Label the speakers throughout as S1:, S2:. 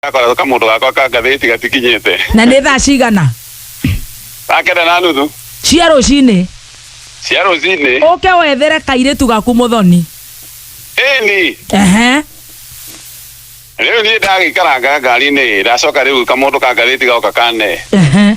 S1: gakoretwo kamundu gakwa ka ngathĩti gatikinyĩte na nĩ thaa cigana gakenda na nuthu cia rũcinĩ cia rũcinĩ ũke wethere kairĩtu gaku mũthoni ĩni ehe rĩu niĩ ndagĩikaranga ngari-inĩ ndacoka rĩu kamundu ka ngathĩti gaoka kane ehe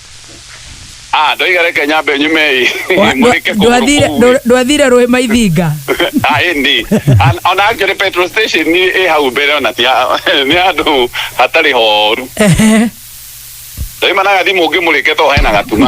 S1: Ah, ndoiga reke nyambe nyumei. Wa- Mũrĩke ndwa- kũgũrũ ndwathire- kũu. ndwa- ndwathire rũĩ maithinga Ah, ĩndĩ. An- Ona actually petrol station ni ĩ hau mbere ona ti ha- nĩ handũ hatarĩ horu. Ehe. Ndaima na gathimũ ũngĩ mũrĩke to hena gatuma.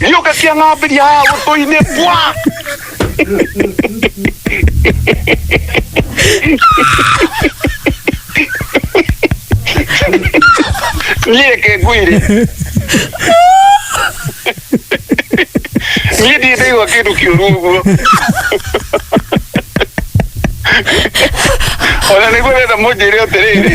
S1: Gĩũka kĩa ng'ambĩria haha gũtũ-inĩ bwa. Niĩ reke ngwĩre. Niĩ ndirĩ ndaigua kĩndũ kĩũru ũguo. Ona nĩguo wenda mũnjĩre atĩrĩrĩ.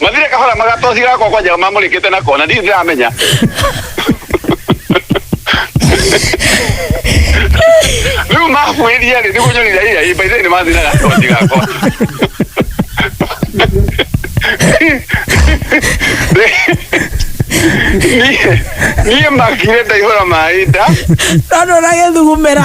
S1: mathire kahora magatoci gakwa kwa njaga mamũrĩkĩte na kona ndirĩ ndĩramenya rĩu mabuĩria rĩ nĩguo nyonire ĩya ĩ baithĩ nĩ mathire gatoci gakwa Niĩ- niĩ makire ndaihũra maĩ nda Rano na gethugumera.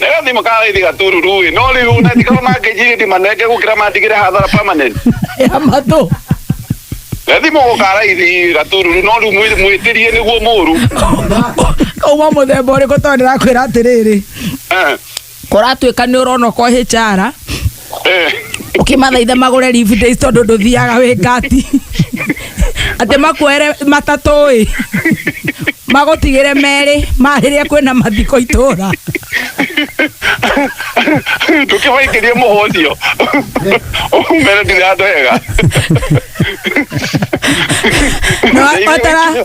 S1: na ĩyo thimũ kana raithi gatururu ĩ no rĩu ona tikorwo mangĩnjirĩ ndimanenge gũkĩra mandigĩre hathara permanent ya matũ na thimũ gũka raithi gatururu no rĩu mwĩ- mwĩtĩrie nĩguo mũru kauma mũthemba ũrĩkũ tondũ ndĩrakwĩra atĩrĩrĩ Eh. kũratuĩka nĩ ũrona kwa hĩcara ũkĩmathaitha magũre leave days tondũ ndũthiaga wĩ ngati atĩ makuere matatũ ĩ magũtigĩre merĩ ma rĩrĩa kwĩna mathiko itũra ndũkĩmaingĩrie mũhũthio mere ndirathega Na wa- watara-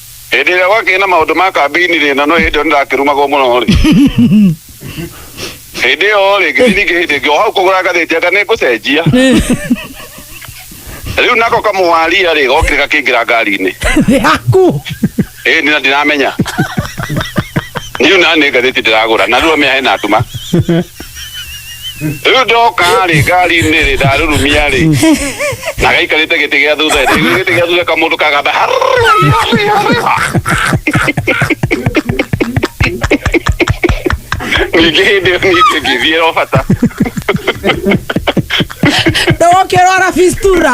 S1: hĩndĩ ĩrĩa gwakĩrĩ na maũndũ ma kambĩini-rĩ na no hĩndĩ ĩyo nĩndakĩrumagwo mũno-rĩ hĩndĩ ĩyo-rĩ ngĩthiĩ ningĩ hĩndĩ ĩngĩ o hau kũgũra ngathĩti anga nĩngũcenjia rĩu nako kamũwaria-rĩ gokire gakĩingĩra ngari-inĩ yaku ĩni na ndiramenya niu na nĩ ngathĩti ndĩragũra na rĩu amĩa hena nduma rĩu ndoka rĩ ngari-inĩ rĩ ndarurumia rĩ na gaikarĩte gĩtĩ gĩa thutha rĩ Rĩu gĩtĩ gĩa thutha kamũndũ kagatha ningĩ hĩndĩ ĩyo ningĩ ngĩthiĩ o bata ndogokĩrwara fistura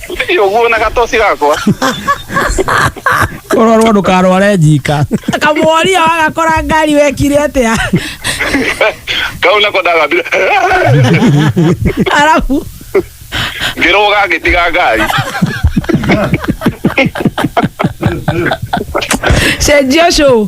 S1: Ti ũguo na gatoci gakwa. Ũrorwo ndũkarware njika. Kamworia wagakora ngari wekire atĩa? Kau nako ndagambire. Arabu Ngĩrũga ngĩtiga ngari. cenjia ũcũ